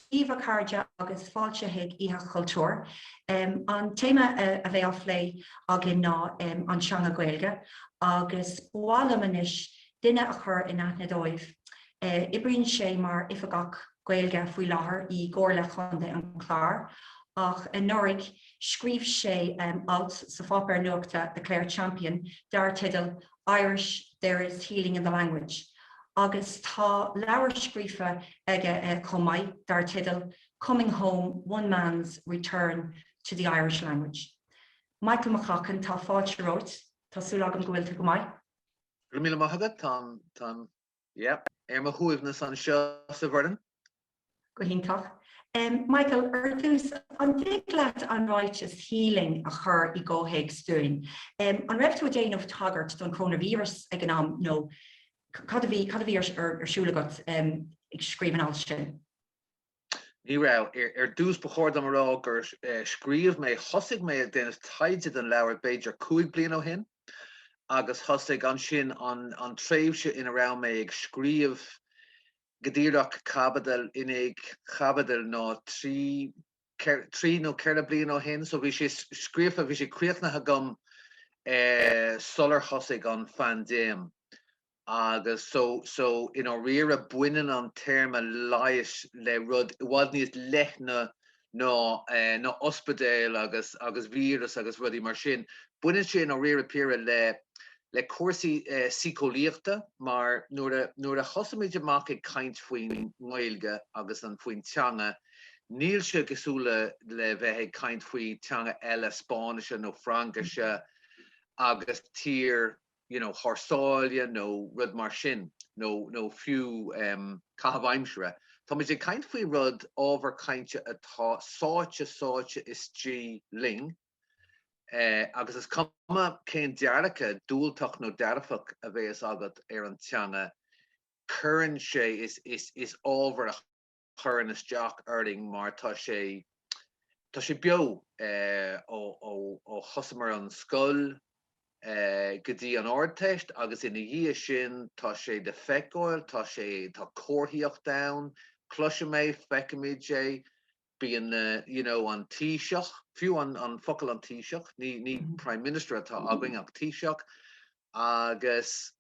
Dia daoibh a chairde agus fáilte chuig Oíche Chultúir, an téama a bheidh á phlé againn ná an teanga Gaeilge agus ba mhaith liom anois duine a chur in aithne daoibh. Oibríonn sé mar Oifigeach. Gaeilge faoi láthair i gComhairle Chontae an Chláir, ach anuraidh scríobh sé alt sa pháipéar nuachta The Clare Champion dar teideal 'Irish, there is healing in the language' agus tá leabhar scríofa aige chomh maith dar teideal Coming Home, One Man's Return to the Irish Language. Michael McCaughan, tá fáilte romhat, tá súil agam go bhfuil tú go maith. Go raibh míle maith agat, táim. Yep. Ar mo shuaimhneas anseo sa Bhoireann. Go hiontach. Michael, ar dtús, an dtig leat an ráiteas healing a chur i gcomhthéacs dúinn? An raibh tú ag déanamh tagairt don coronavirus ag an am nó cad a bhí ar siúl agat ag scríobh an ailt sin? Ní raibh. Ar dtús, ba chóir dom a rá gur scríobh mé, thosaigh mé ag déanamh taighde don leabhar b'fhéidir cúig bliain ó shin agus thosaigh ansin an tréimhse ina raibh mé ag scríobh go díreach, caibidil i ndiaidh caibidil ná trí, trí nó ceithre bliain ó shin. So bhí sé scríofa, bhí sé críochnaithe agam sular thosaigh an phaindéim. agus so, so, i ndáiríre baineann an téarma leighis le rud i bhfad níos leithne ná, eh, ná ospidéal agus, agus víreas agus rudaí mar sin. Baineann sé i ndáiríre píre le, le cúrsaí, eh, síceolaíochta mar nuair a, nuair a thosaímid amach ag caint faoin nGaeilge agus an, faoin teanga, níl sé cosúil le, le bheith ag caint faoi teanga eile, Spáinnis nó Fraincis, agus tír, you know, thar sáile nó rud mar sin, nó, nó fiú em, caitheamh aimsire. Táimid ag caint faoi rud, ábhar cainte atá sáite, sáite istigh linn, eh, agus is cuma cén dearcadh diúltach nó dearfach a bheas agat ar an teanga, cuireann sé, is, is, is ábhar a chuireann isteach orainn mar tá sé tá sé beo ó thosamar an scoil go dtí an Ardteist agus ina dhiaidh sin tá sé le feiceáil, tá sé tá comharthaíocht ann, cloisimid é, feicimid é, bíonn na you know an taoiseach, fiú an focal an taoiseach, ní ní Prime Minister atá againn ach taoiseach agus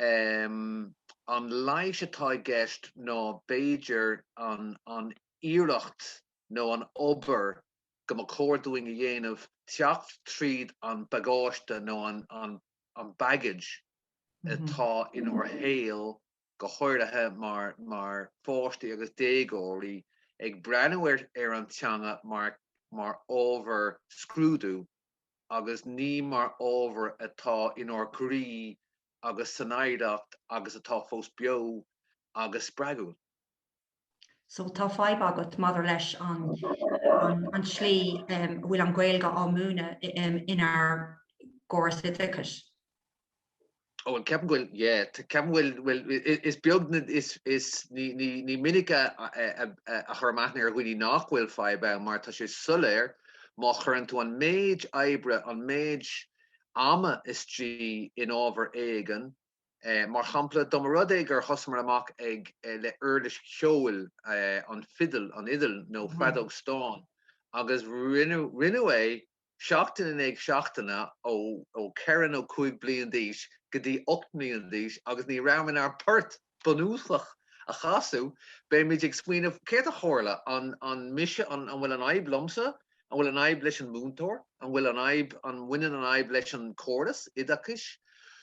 An leighis atá i gceist ná b'fhéidir an iarracht nó an obair go mba chóir dúinn a dhéanamh teacht tríd an bagáiste nó an baggage atá inár shaol, go háirithe mar pháistí agus déagóirí, ag breathnú ar an teanga mar ábhar scrúdú agus ní mar ábhar atá inár gcroí agus san oidhreacht agus atá fós beo agus spreagúil. So tá fadhb agat maidir leis an an tslí a bhfuil an Ghaeilge á múineadh inár gcóras oideachais. Ó, ceapaim go bhfuil, yeah, ceapaim go bhfuil, bhfuil, is beag, is, is, ní, ní, ní minic a, a chuir mé aithne ar dhuine nach bhfuil fadhb ann mar tá sé soiléir má chuireann tú an méid oibre, an méid ama istigh in ábhar éigin, mar shampla, dá mba rud é gur thosaíomar amach ag, le huirlis cheoil, an fidil, an fhidil nó feadóg stáin agus rinneadh, rinneadh é seachtain in aghaidh seachtaine ó ceithre nó cúig bliain d'aois go dtí ocht mbliana déag d'aois agus ní raibh in ann port bunúsach a chasadh, beimid ag smaoineamh, céard a tharla, an mise, an bhfuil an fhadhb liomsa, an bhfuil an fhadhb leis an múinteoir, an bhfuil an fhadhb, an mbaineann an fhadhb leis an chóras oideachais?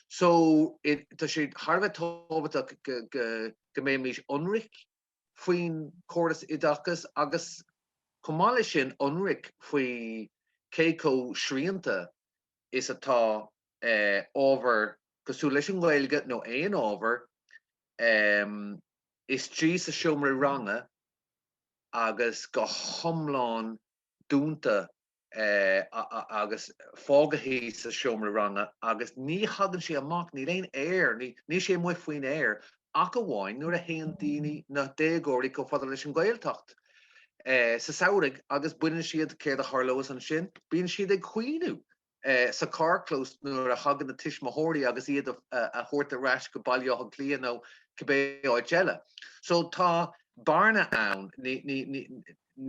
So, tá sé thar a bheith tábhachtach go mbeimis ionraic. faoin gcóras oideachais agus, chomh maith leis sin, ionraic faoi cé chomh srianta is atá ábhar cosúil leis an nGaeilge, nó aon ábhar, istigh sa seomra ranga agus go hiomlán dúnta agus fágaithí sa seomra ranga agus ní thagann sé amach, níl aon aer, níl sé amuigh faoin aer ach amháin nuair a théann daoine, na déagóirí, chomh fada leis an Ghaeltacht sa samhraidh agus baineann siad céard a tharlós ansin, bíonn siad ag caoineadh sa charrchlós nuair a thagann na tuismitheoirí chun iad a thabhairt ar ais go Baile Átha Cliath nó cibé áit eile. So tá bearna ann.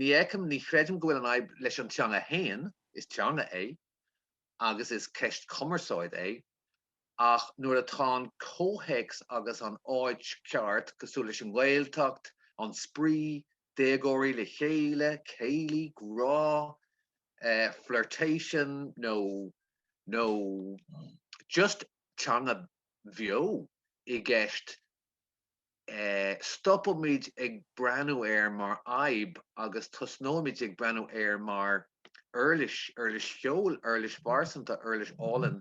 Ní fheicim, ní chreidim go bhfuil an fhadhb leis an teanga fhéin, is teanga é, agus is ceist cumarsáid é, ach nuair atá an comhthéacs agus an áit ceart, cosúil leis an nGaeltacht, an spraoi, déagóirí le chéile, céilí, grá, flirtation, nó, nó just teanga bheo i gceist, stopaimid ag breathnú air mar fhadhb agus tosnaímid ag breathnú air mar uirlis, uirlis cheoil, uirlis phearsanta, uirlis álainn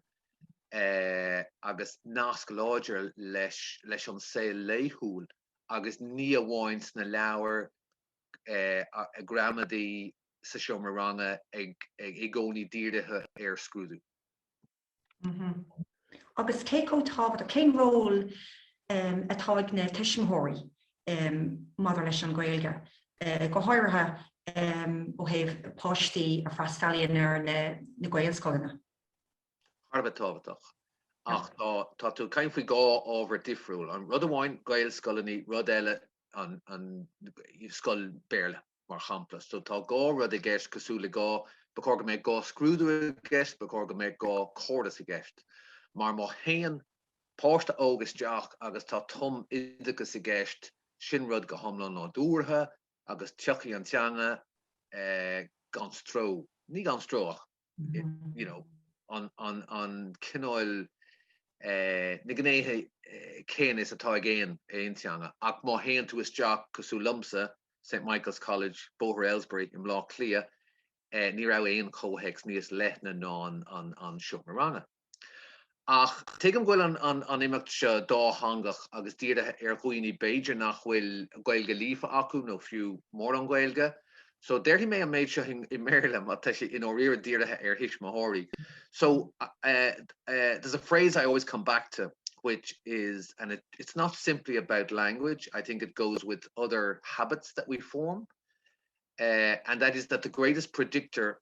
agus nasc láidir leis an saol laethúil agus ní amháin sna leabhair ghramadaí, sa seomra ranga, i gcónaí dírithe ar scrúdú. Agus cé chomh tábhachtach, cén ról atá ag na tuismitheoirí maidir leis an Ghaeilge, go háirithe ó thaobh páistí a fhreastalaíonn ar na Gaelscoileanna? Thar a bheith tábhachtach. Ach tá tú ag caint faoi dhá ábhar difriúil. Rud amháin Gaelscoileanna, rud eile scoil Béarla. mar shampla. So tá dhá rud i gceist cosúil le dhá, ba chóir go mbeadh dhá scrúdú i gceist, ba chóir go mbeadh dhá chóras i gceist. Mar má théann páiste óg isteach agus tá tumoideachas i gceist, sin rud go hiomlán nádúrtha agus tiocfaidh an teanga gan stró, ní gan stró ach. you know, an, an, an cineál, eh, na gnéithe céanna is atá ag aon, aon teanga. Ach má théann tú isteach, cosúil liomsa, St Michael's College, Bóthar Ailesbury, i mBleá Cliath, eh, ní raibh aon chomhthéacs níos leithne ná an, an, an, an, seomra ranga. Ach tuigim go bhfuil an imeacht seo dátheangach agus dírithe ar dhaoine b'fhéidir nach bhfuil Gaeilge líofa acu nó fiú mórán Gaeilge. So déarfaidh mé an méid seo i mBéarla mar tá sé i ndáiríre dírithe ar thuismitheoirí. So there's a phrase I always come back to which is and it, it's not simply about language, I think it goes with other habits that we form. Uh, and that is that the greatest predictor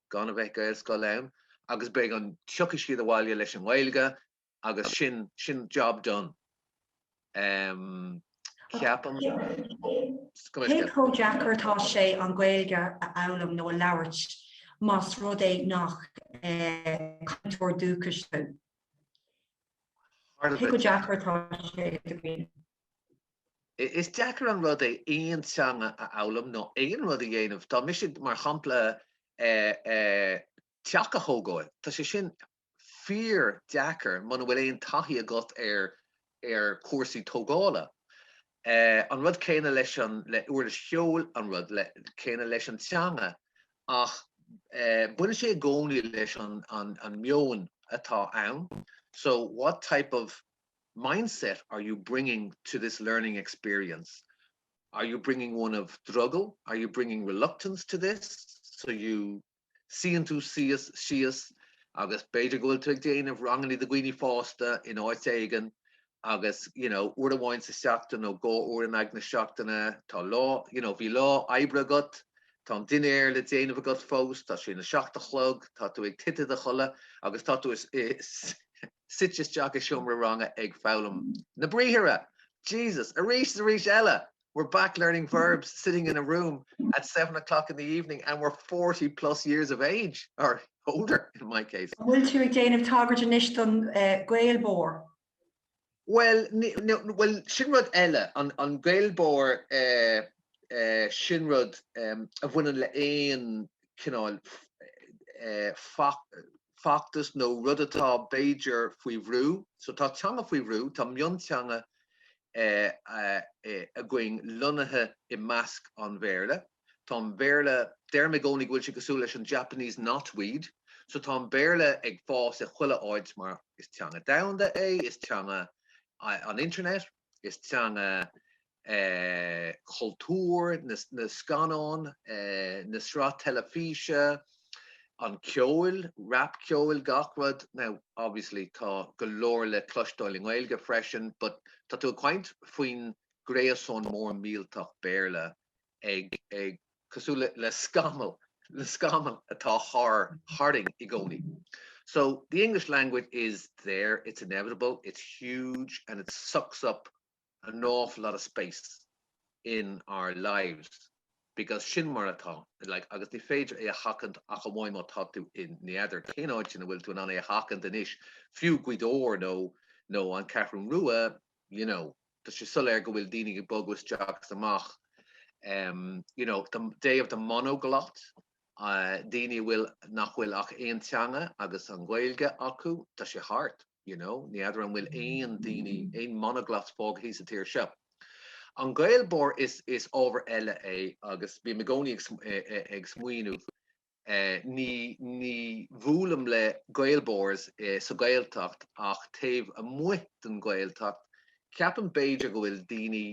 gan a bheith Gaelscoileanna agus beidh an, tiocfaidh siad abhaile leis an nGaeilge agus sin, sin job done em ceapaim. Cé chomh deacair atá sé an Ghaeilge a fhoghlaim nó a labhairt más rud é nach cainteoir dúchais tú? Cé chomh deacair atá sé? Is deacair an rud é aon teanga a fhoghlaim nó aon rud a dhéanamh. Tá mise, mar shampla, teach a thógáil, tá sé sin fíordheacair muna bhfuil aon taithí agat ar ar chúrsaí tógála. An rud céanna leis an le uirlis cheoil, an rud céanna leis an teanga. Ach baineann sé i gcónaí leis an an an meon atá ann. So, what type of mindset are you bringing to this learning experience? Are you bringing one of drogall? Are you bringing reluctance to this? So you suíonn tú síos, agus b'fhéidir go bhfuil tú ag déanamh ranganna do dhaoine fásta in áit éigin agus, you know, uair amháin sa tseachtain nó dhá uair in aghaidh na seachtaine, tá lá, you know, bhí lá oibre agat, tá an dinnéar le déanamh agat fós, tá sé na seacht a chlog, tá tú ag titim i do chodladh agus tá tú i, suite isteach i seomra ranga ag foghlaim na briathartha, Jesus! Arís is arís eile, we're back learning verbs, sitting in a room at seven o'clock in the evening and we're forty plus years of age, or older in my case. An bhfuil tú ag déanamh tagairt anois don eh, Gaelbore? Well, ni- no, well, sin rud eile, an, an Gaelbore eh, sin rud a bhaineann le haon chineál feachtas nó rud atá b'fhéidir faoi bhrú. So tá teanga faoi bhrú, tá mionteanga againn lonnaithe i measc an Bhéarla. Tá an Béarla, deirim i gcónaí go bhfuil sé cosúil leis an Japanese knotweed. So tá an Béarla ag fás i chuile áit mar is teanga domhanda é, is teanga an internet, is teanga cultúr, na scannáin, na sraith teilifíse, an ceoil, rap ceoil, gach rud. Now, obviously tá go leor le cloisteáil i nGaeilge freisin but tá tú ag caint faoin gréasán mór millteach Béarla ag ag cosúil le scamall atá thar tharainn i gcónaí. So the English language is there, it's inevitable, it's huge and it sucks up an awful lot of space in our lives because sin mar atá like agus ní féidir é a sheachaint ach amháin má tá tú i n'fheadar cén áit ina bhfuil tú in ann é a sheachaint anois fiú Gaoth Dobhair nó nó an Ceathrún Rua you know tá sé soiléir go bhfuil daoine ag bogadh isteach is amach um, you know, the day of the monoglot, daoine a bhfuil, nach bhfuil ach aon teanga agus an Ghaeilge acu, tá sé thart, you know, ní fheadar an bhfuil aon daoine, aon monoglots fágthaí sa tír seo. An Gaelbore, is, is ábhar eile é agus bím i gcónaí ag, ag smaoineamh, ní, ní bhuailim le Gaelbores sa Ghaeltacht ach taobh amuigh den Ghaeltacht, ceapaim b'fhéidir go bhfuil daoine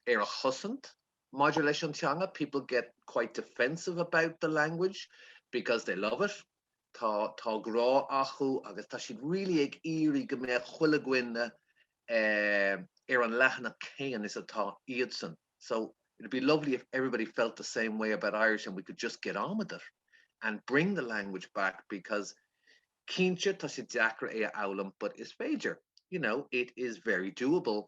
ar a gcosaint Maidir leis an teanga, people get quite defensive about the language because they love it, tá grá acu agus tá siad really ag iarraidh go mbeadh chuile dhuine ar an leathanach céanna is atá iadsan, so it'd be lovely if everybody felt the same way about Irish and we could just get on with it and bring the language back because cinnte tá sé deacair é a fhoghlaim but is féidir, you know, it is very doable.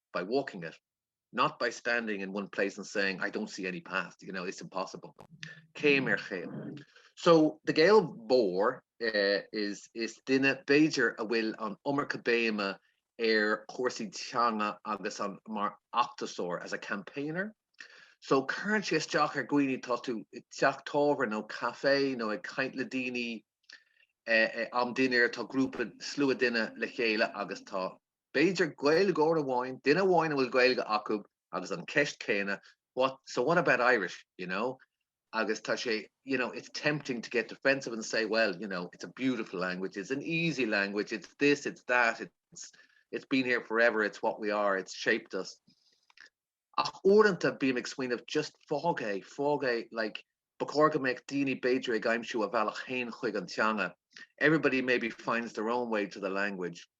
by walking it, not by standing in one place and saying I don't see any path, you know, it's impossible. Céim ar chéim. So, the Gael mór is is duine, b'fhéidir, a bhfuil an iomarca béime ar chúrsaí teanga agus mar fheachtasóir, as a campaigner. So, cuireann sé isteach ar dhaoine, tá tú i teach tábhairne nó caife nó ag caint le daoine am dinnéir, tá grúpa, slua duine le chéile agus tá B'fhéidir Gaeilgeoir amháin, duine amháin a bhfuil Gaeilge acub agus an ceist céanna, what, so what about Irish, you know? Agus tá sé, you know, it's tempting to get defensive and say, well, you know, it's a beautiful language, it's an easy language, it's this, it's that, it's it's been here forever, it's what we are, it's shaped us. Ach uaireanta bím ag smaoineamh just fág é, fág é, like, ba chóir go mbeadh daoine b'fhéidir ag aimsiú a bhealach féin chuig an teanga. Everybody maybe finds their own way to the language.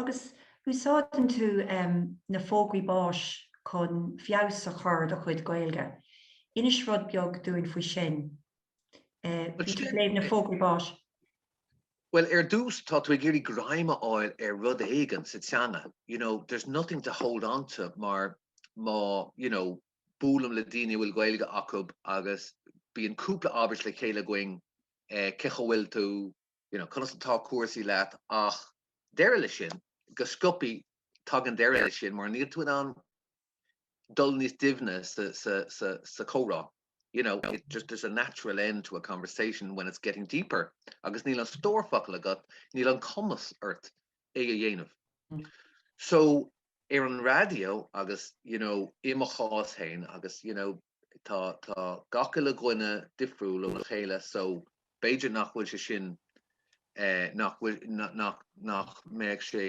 Agus úsáideann tú na fógraí báis chun feabhas a chur ar do chuid Gaeilge. Inis rud beag dúinn faoi sin. Bhí tú ag léamh na bhfógraí báis. Bhuel, ar dtús, tá tú ag iarraidh greim a fháil ar rud éigin sa teanga. You know, there's nothing to hold on to mar má, you know, buailim le daoine a bhfuil Gaeilge acub agus bíonn cúpla abairt le chéile againn, eh, cén chaoi a bhfuil tú, you know, conas atá cúrsaí leat ach deireadh leis sin, go sciobthaí tagann deireadh leis sin mar níl tú in ann dul níos doimhne sa, sa, sa, sa chomhrá, you know, it just, there's a natural end to a conversation when it's getting deeper agus níl an stór focal agat, níl an cumas ort é a dhéanamh. So ar an raidió agus, you know, i mo chás féin agus, you know, Tá gach uile dhuine difriúil óna chéile so b'fhéidir nach bhfuil sé sin, nach mbeadh sé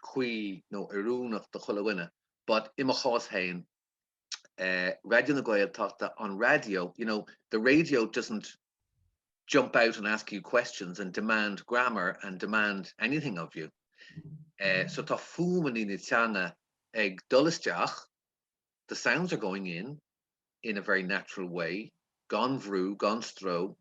cuí nó oiriúnach do chuile dhuine but i mo chás féin, Raidió na Gaeltachta, an raidió, you know, the radio doesn't jump out and ask you questions and demand grammar and demand anything of you so tá fuaimeanna na teanga ag dul isteach, The sounds are going in in a very natural way, gan bhrú, gan stró,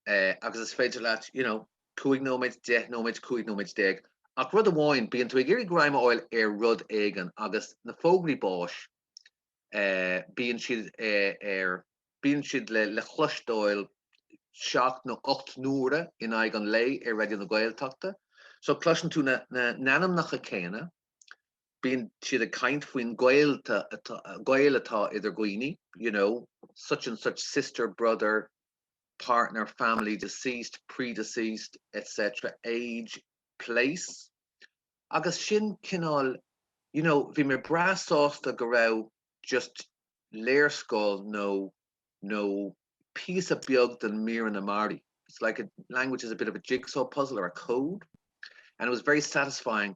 eh agus is féidir leat, you know, cúig nóiméad, deich nóiméad, cúig nóiméad déag, ach rud amháin, bíonn tú ag iarraidh greim a fháil ar rud éigin agus na fógraí báis, eh bíonn siad eh ar, bíonn siad le le cloisteáil seacht nó ocht n-uaire in aghaidh an lae ar Raidió na Gaeltachta, so cloiseann tú na na n-ainmneacha céanna, bíonn siad ag caint faoin gaol atá idir dhaoine, you know, such and such sister, brother, partner, family, deceased, predeceased, etc, age, place, agus sin cineál, you know, bhí mé breá sásta go raibh just léarscáil nó, nó píosa beag den míreanna mairí, it's like a language is a bit of a jigsaw puzzle or a code, and it was very satisfying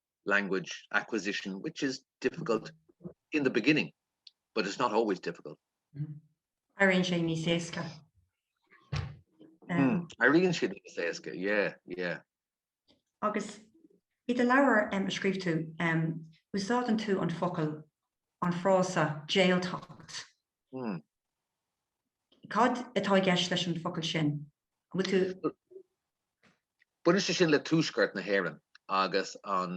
language acquisition which is difficult in the beginning but it's not always difficult. Éiríonn sé níos éasca. Hmm, éiríonn siad níos éasca, yeah, yeah. Agus i do leabhar um, a scríobh tú, um, úsáideann tú an focal, an frása jailtacht. Hmm. Cad atá i gceist leis an focal sin? Bhuel Baineann sé sin le tuaisceart na hÉireann agus an,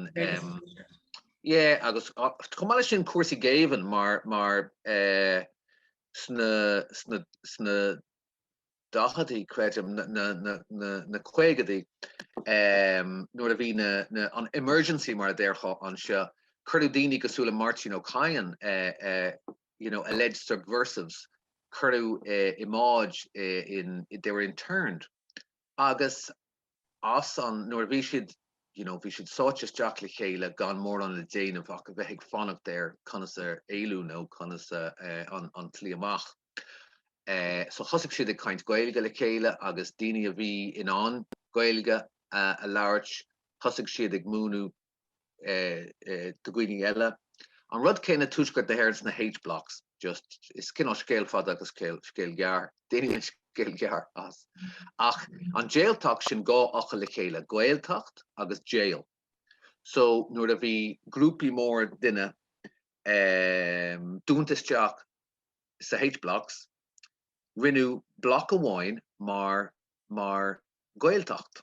yeah, agus chomh maith leis sin cúrsaí géibhinn mar mar sna sna sna daicheadaí creidim na na na na na caogaidí nuair a bhí na na an emergency mar a déarfá anseo cuireadh daoine cosúil le Máirtín Ó Cadhain you know alleged subversives cuireadh iad, like, they were interned Agus as an, nuair a bhí siad, you know, bhí siad sáite isteach le chéile gan mórán le déanamh ach a bheith ag fanacht ar conas a éalú nó conas a, eh, an, an tslí amach. Eh, so thosaigh siad ag caint Gaeilge le chéile agus daoine a bhí in ann Gaeilge a, a labhairt, thosaigh siad ag múineadh do dhaoine eile. An rud céanna tuaisceart na hÉireann sna H-Blocks. Just, is cineál scéal fada agus scéal gearr, déanfaidh mé scéal gearr as. Ach an jailtacht, sin dhá fhocal le chéile, Gaeltacht agus jail. So nuair a bhí grúpaí móra duine dúnta isteach sa H-Blocks, rinneadh block amháin mar Gaeltacht.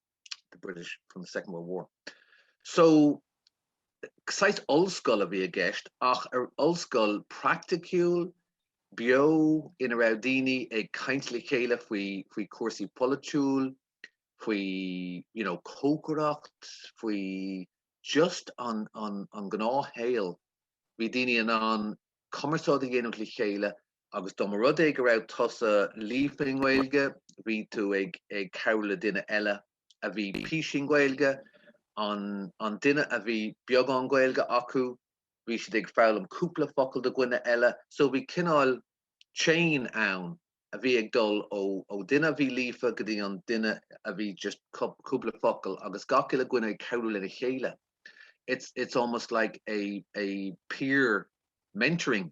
the British from the Second World War. So, saghas ollscoil a bhí i gceist ach ollscoil praiticiúil, beo, ina raibh daoine ag caint le chéile faoi, faoi chúrsaí polaitiúil, faoi, you know, cócaireacht, faoi just an, an, an gnáthshaol. Bhí daoine in ann cumarsáid a dhéanamh le chéile Agus dá mba rud é go raibh tusa líofa i nGaeilge, bhí tú ag cabhrú le duine eile a bhí píosa Gaeilge, an duine a bhí beagán Gaeilge acu, bhí siad ag foghlaim cúpla focal do dhuine eile. So bhí cineál chain ann a bhí ag dul ó dhuine a bhí líofa go dtí an duine a bhí just cúpla focal agus gach uile dhuine ag cabhrú lena chéile. It's almost like a peer mentoring.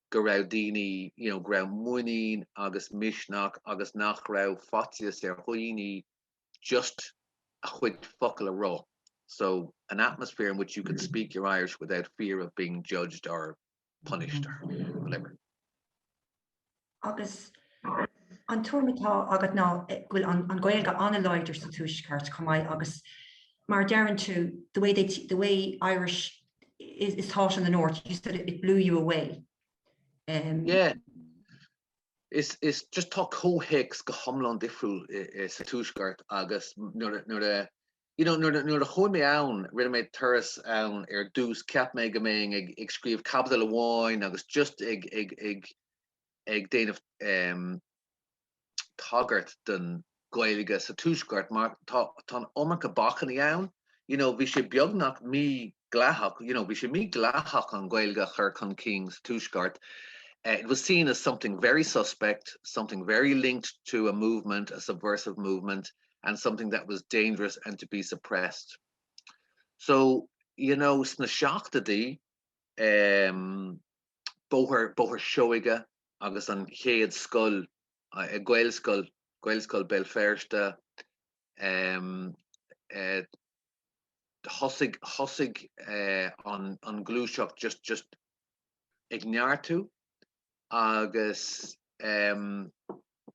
go raibh daoine, you know, go raibh muinín agus misneach agus nach raibh faitíos ar dhaoine just a chuid focal a rá, so an atmosphere in which you can speak your Irish without fear of being judged or punished or whatever. Agus an tuairim atá agat ná eh, bhfuil an, an Ghaeilge an-láidir sa tuaisceart chomh maith agus mar deireann tú the way, they, the way Irish is taught in the north, you said it blew you away. Um. Yeah. Is is just tá comhthéacs go hiomlán difriúil sa Tuaisceart agus nuair a you know nuair nuair a chuaigh mé ann rinne mé turas ann ar dtús cheap mé go mbeinn ag ag scríobh caibidil amháin agus just ag ag ag ag déanamh um, tagairt don Ghaeilge sa Tuaisceart mar tá an iomarca bacainní ann. You know, bhí sé beagnach mídhleathach, you know, bhí sé mídhleathach an Ghaeilge a chur chun cinn sa Tuaisceart. It was seen as something very suspect, something very linked to a movement, a subversive movement, and something that was dangerous and to be suppressed. So, you know, sna seachtóidí, eh, Bóthar, Bóthar Seoighe, agus an chéad scoil, Gaelscoil, Gaelscoil Béal Feirste, thosaigh an ghluaiseacht just ag neartú agus.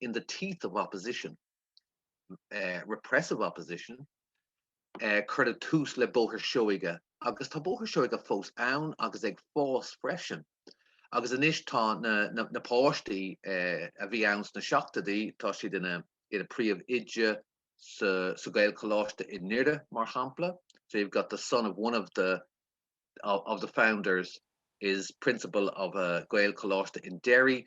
in the teeth of opposition, repressive opposition, cuireadh tús le Bóthar Seoighe agus tá Bóthar Seoighe fós ann agus ag fás freisin agus anois tá na na páistí a bhí ann sna seachtóidí, tá siad ina ina príomhoide sa sa Gaelcholáiste i nDoire mar shampla. So you've got the son of one of the of the founders is principal of a Gaelcholáiste in Derry.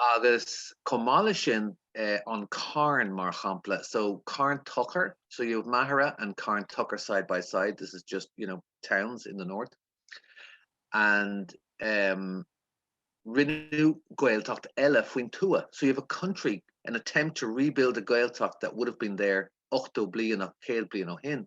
Agus chomh maith leis sin, an carn, mar shampla, so Carn Tochair, so you have Machaire and Carn Tochair side by side, this is just, you know, towns in the north, and rinneadh Gaeltacht eile faoin tuath, so you have a country, an attempt to rebuild a Gaeltacht that would have been there 80 bliain, 100 bliain ó shin.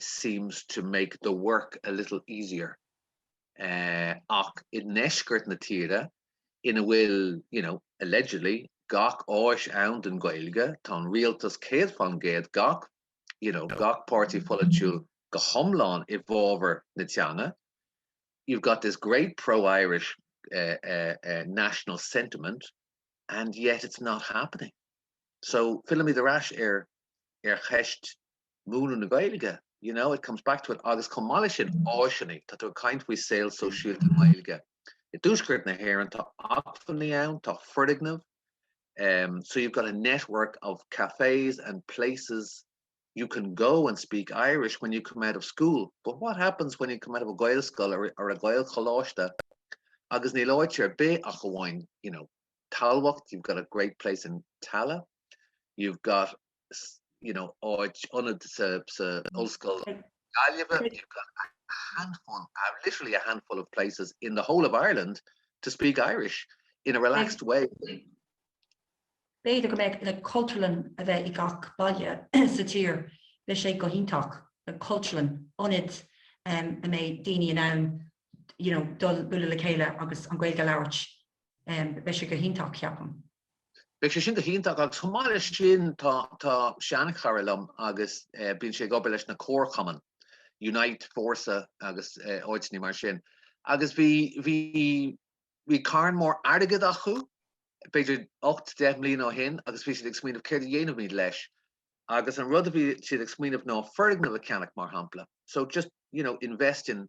seems to make the work a little easier ach i ndeisceart na tíre ina bhfuil, you know, allegedly, gach áis ann don Ghaeilge, tá an rialtas céad fán gcéad, gach, you know, gach páirtí polaitiúil go hiomlán i bhfabhar na teanga, you've got this great pro-Irish uh, uh, uh, national sentiment and yet it's not happening. So, fillimid ar ais ar ar cheist mhúineadh na Gaeilge, you know, it comes back to it agus chomh maith leis sin, áiseanna, tá tú ag caint faoi saol sóisialta na Gaeilge i dTuaisceart na hÉireann, tá acmhainní ann, tá foirgnimh, um, so you've got a network of cafes and places you can go and speak Irish when you come out of school, but what happens when you come out of a Gaelscoil or, or a Gaelcholáiste agus níl áit ar bith ach amháin, you know, Tamhlacht, you've got a great place in Tallaght, you've got you know áit, ionad sa ollscoil Gaillimhe, you've got a handful, literally a handful of places in the whole of Ireland to speak Irish in a relaxed way. B'fhéidir go mbeadh like Cultúrlann a bheith i gach baile sa tír, bheadh sé go hiontach, like Cultúrlann, ionad a mbeidh daoine in ann you know dul bualadh le chéile agus an Ghaeilge a labhairt. Beidh sé go hiontach, ceapaim. Beidh sé sin go hiontach agus chomh maith leis sin tá seanchara liom agus bíonn sé ag obair leis na comharchumainn, Unite, Fórsa agus áiteanna mar sin agus bhí, bhí, bhí carn mór airgid acu, b'fhéidir ocht, deich mbliana ó shin agus bhí siad ag smaoineamh céard a dhéanfaimid leis agus an rud a bhí siad ag smaoineamh ná foirgneamh a cheannach mar shampla, so just, you know, invest in,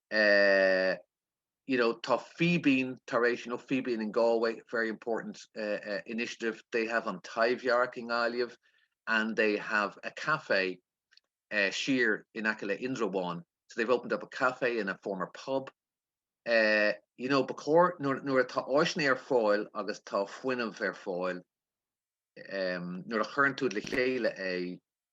eh, you know, tá Fíbín tar éis, you know, Fíbín in Galway, very important eh, eh, initiative, they have an Taibhdhearc i nGaillimh and they have a café eh, siar in aice le Indreabhán, so they've opened up a café in a former pub. Eh, you know, ba chóir, nuair, nuair atá áiseanna ar fáil agus tá fuinneamh ar fáil, em, nuair a chuireann tú le chéile é,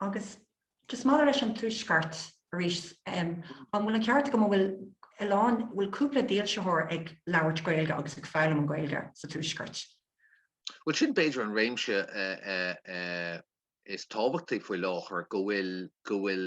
Agus just maidir leis an Tuaisceart arís, an bhfuil an ceart agam an bhfuil a lán, bhfuil cúpla dílseoir ag labhairt Gaeilge agus ag foghlaim an Gaeilge sa Tuaisceart? Bhuel sin b'fhéidir an réimse is tábhachtaí faoi láthair go bhfuil go bhfuil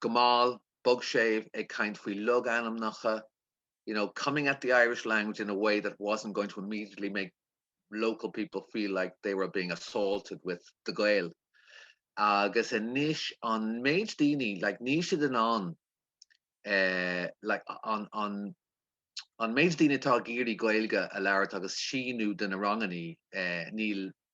go mall, bog séimh, ag caint faoi logainmneacha, you know, coming at the Irish language in a way that wasn't going to immediately make local people feel like they were being assaulted with the Gael. Agus anois, an méid daoine, like, níl siad in ann, eh, like, an, an, an méid daoine atá ag iarraidh Gaeilge a labhairt agus síniú do na ranganna, eh, níl,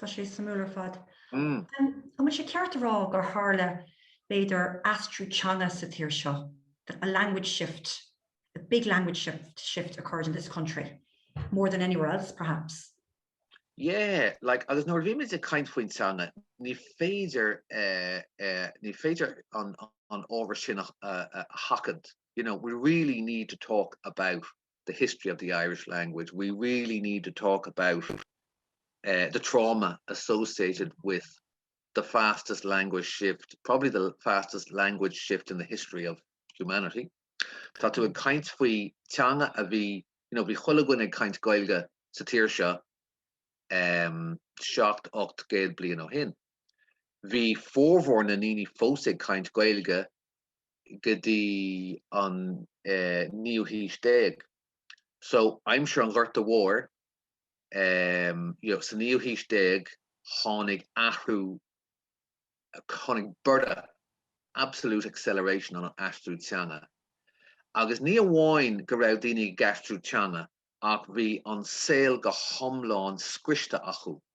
Tá sé suimiúil ar fad. An bhfuil sé ceart a rá gur tharla b'fhéidir aistriú teanga sa tír seo, a language shift, a big language shift occurred in this country more than anywhere else perhaps. Yeah, like agus nuair a bhímid ag caint faoin teanga ní féidir ní féidir an ábhar sin a sheachaint, you know, we really need to talk about the history of the Irish language, we really need to talk about eh the trauma associated with the fastest language shift, probably the fastest language shift in the history of humanity. Tá tú ag caint faoi teanga a bhí, you know, bhí chuile dhuine ag caint Gaeilge sa tír seo eh seacht, ocht gcéad bliain ó shin. Bhí formhór na ndaoine fós ag caint Gaeilge go dtí an naoú haois déag. So, aimsir an Ghorta Mhóir, you know, sa naoú haois déag, tháinig athrú, tháinig borradh, absolute acceleration ar an aistriú teanga. Agus ní amháin go raibh daoine ag aistriú teanga ach bhí an saol go hiomlán scriosta acu.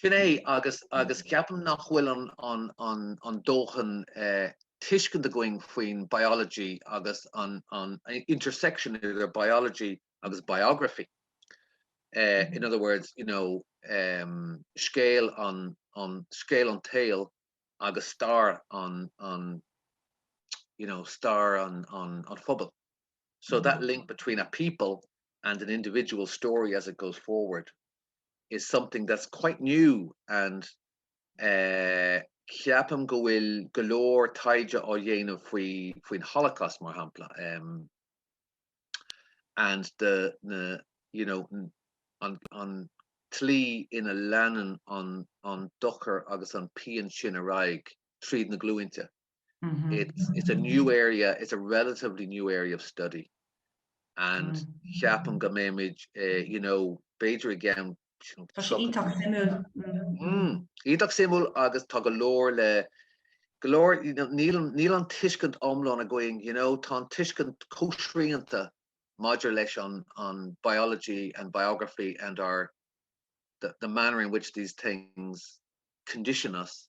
Sin é, agus agus ceapaim nach bhfuil an an an an dóthain tuiscint againn faoin mbiology agus an an intersection idir biology agus biography. Uh, in other words, you know, um, scéal an an scéal an tsaoil, agus stair an an you know stair an an an phobail. So that link between a people and an individual story as it goes forward is something that's quite new and eh ceapaim go bhfuil go leor taighde á dhéanamh faoi faoin Holocaust mar shampla em and the na you know an an tslí ina leanann an an dochar agus an pian sin ar aghaidh tríd na glúinte. it's a new area, it's a relatively new area of study and ceapaim go mbeimid, you know, b'fhéidir i gceann, you know, Tá sé iontach suimiúil. mm, iontach suimiúil agus tá go leor le, go leor, you know, níl, níl an tuiscint iomlán againn, you know, tá an tuiscint chomh srianta maidir leis an, an biology and biography and our, the, the manner in which these things condition us,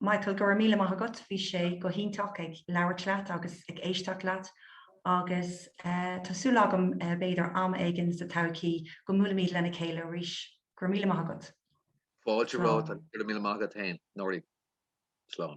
Michael, go raibh míle maith agat, bhí sé go hiontach ag labhairt leat agus ag éisteacht leat agus tá súil agam b'fhéidir am éigin sa todhchaí go mbuailfimid lena chéile arís. Go raibh míle maith agat. Fáilte romhat agus go raibh míle maith agat féin. Nora, slán.